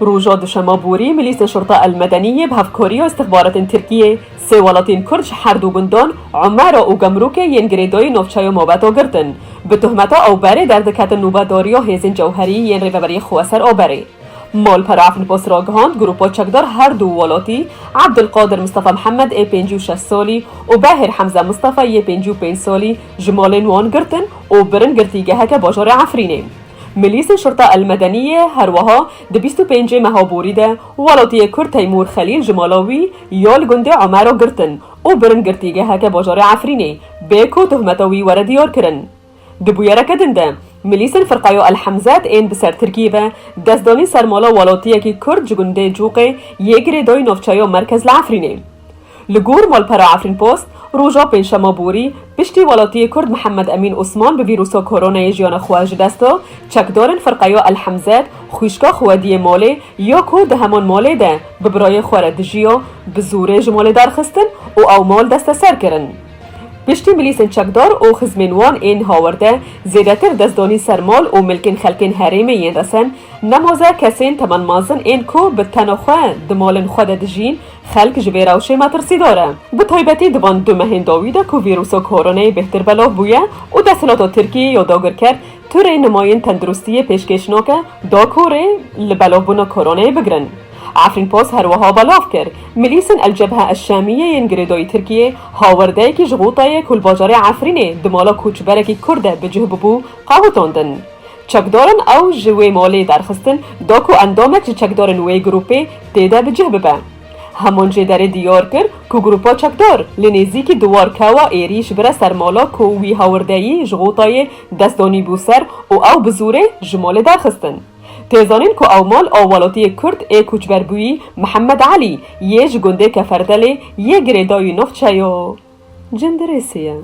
Roja duşema borî Milîsên Şurta El Medenî yê bi hevkariya îstixbaratên Tirkiyê sê welatên Kurd ji her du gundan Umera û Gemrûkê yên girêdayî navçeya Mabeta girtin. Bi tohmeta awberê derdiketin nûbedariya hêzên cewherî yên Rêveberiyê xwe ser aberê. Malpera Efnpost ragihand grûpa çekdar her du welatî Ebdulqadir Mistefa Mihemed ê pêncî û şeş salî û Behêr Hemze Mistefa yê pêncî û pênc salî ji malên wan girtin û birin girtîgeheke bajarê Efrînê. Milîsê Şurta El Medeniyê her weha di bîst û pêncê meha borî de welatiyê Kurd Teymûr Xelîl ji mala wî ya li gundê Omero girtin û birin girtîgeheke bajarê Efrînê bê ku tohmeta wî were diyar kirin. Di bûyereke din de milîsên Firqeya El Hemzet ên bi ser Tirkiyê ve dest danîn ser mala welatiyekî Kurd ji gundê Cûqê yê girêdayî navçeya Merkez li Efrînê. Li gor malpera Efrînpost, roja pêncşema borî piştî welatiyê Kurd Mihemed Emîn Osman bi vîrusa koronayê jiyana xwe ji dest da, çekdarên firqeya El Hemzet xwîşka Xwediyê Malê ya ku di heman malê de bi birayê xwe re dijiya bi zorê ji malê derxistin û ew mal desteser kirin. Piştî milîsên çekdar û xizmên wan ên hawerde zêdetir destdanî ser mal û milkên xelkên herêmê yên resen nemaze kesên temenmazin ên ku bi tena xwe di malên xwe de dijîn, Xelk ji vê rewşê metirsîdar e. Bi taybetî di van du mehên dawî de ku vîrûsa koronayê bêhtir belav bûye û desthilata Tirkiyeyê ya dagirker tu rê nimayên tenduristiyê pêşkêş nake da ku rê li belavbûna koronayê bigirin. Efrînpost her wiha belav kir, Milîsên El Cebhe El Şamîye yên girêdayî Tirkiyê hawerdeyekî ji Xûtayê ku li bajarê Efrînê di mala koçberekî Kurd de bi cih bûbû qewitandin. Çekdaran ew ji wê malê derxistin da ku endamek ji çekdarên wê grûpê tê de bi cih bibe. Hemon jê derê diyar kir ku grûpa çekdar li nêzîkî Duwar Kewa êrîş bire ser mala ku wî hawirdeyî ji Xotayê dest danîbû ser û ew bi zûrê ji malê derxistin. Tê zanîn ku ew mal a welatiyê Kurd ê koçberbûyî Mihemed Elî yê ji gundê Keferdelê yê girêdayî navçeya Cindirêsê ye.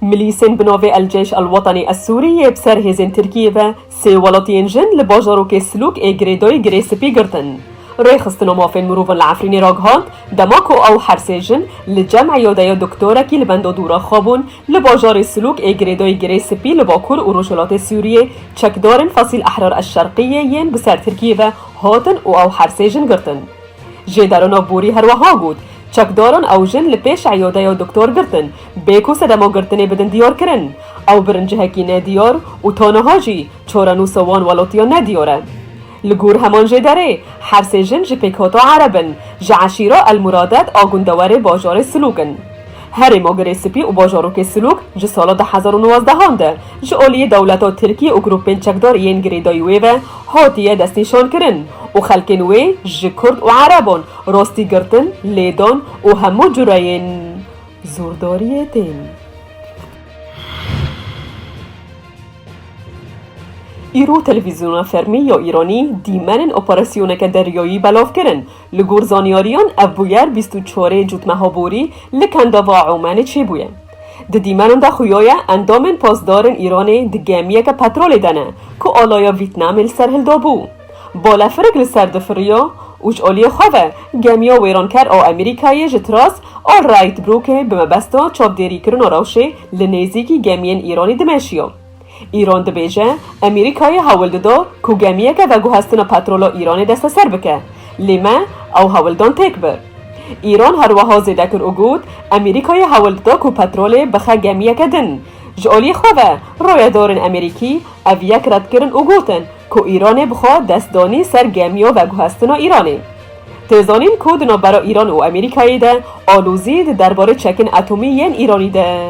Milîsên bi navê El Ceyş El Wetenî Ez Sûrî yê bi ser hêzên Tirkiyê ve sê welatiyên jin li bajarokê Silûk ê girêdayî girê spî girtin. Rêxistina mafên mirovan li Efrînê ragihand, dema ku ew her sê jin li cem îyadeya doktorekî li benda dû re xwebûn, li bajarê Silûk ê girêdayî girê spî li bakur û rojhilatê Sûriyê çekdarên Fasîl Ehrar El Şerqiyê yên bi ser Tirkiyê ve Hatin û ew her sê jin girtin. Jê Darona Bûrî her weha got, Çekdaran ew jin li pêş eyadeya doktor girtin, bê ku sedema girtinê bidin diyar kirin. Ew birin cihekî ne diyar û ta niha jî çarenûsa wan welatiya ne diyar e. Li gor heman jê derê, her sê jin ji pêkhata Ereb in, ji eşîra El Muradet a gundewerê bajarê Silûk in. Herêm Ogirê Sipî û Bajorokê Silûk ji sala du hezar û nwazdeh an de ji aliyê dewleta Tirkî û grûpên çekdar yên girêdayî wê ve hatiye destnîşankirin û xelkên wê ji kurd û ereban rastî girtin, lêdan û hemû cureyên zordariyê tên. Îro televîzyona fermî ya Îranî dîmenên operasyoneke deryayî belav kirin, Li gor zanyariyan ev bûyer bîst û çarê cotmeha borî li Kendava Omanê çêbûye. Di dîmenan de xuyaye endamên pasdarin Îranê di gemiyeke petrolê de ne ku alaya Vîtnamê li ser hildabû. Balefirik li ser difiriya û ji aliyê xwe ve gemiya wêranker a Amerîkayê ji Tras a Wright Brooke bi mebesta çavdêrîkirina rewşê li nêzîkî gemiyên Îranê dimeşiya. Îran dibêje, Emerîkayê hewil dido ku gemiyeke veguhestina petrola Îranê desteser bike, lê me ew hewildan têk bir. Îran her weha zêde kir û got, Emerîkayê hewil dida ku petrolê bixe gemiyeke din. Ji aliyê xwe ve, rayedarên Emerîkî ev yek red kirin û gotin ku Îranê bixwe dest danî ser gemiya veguhestina Îranê. Tê zanîn ku di navbera Îran û Emerîkayê de alozî di derbarê çekên atomî yên Îranî de.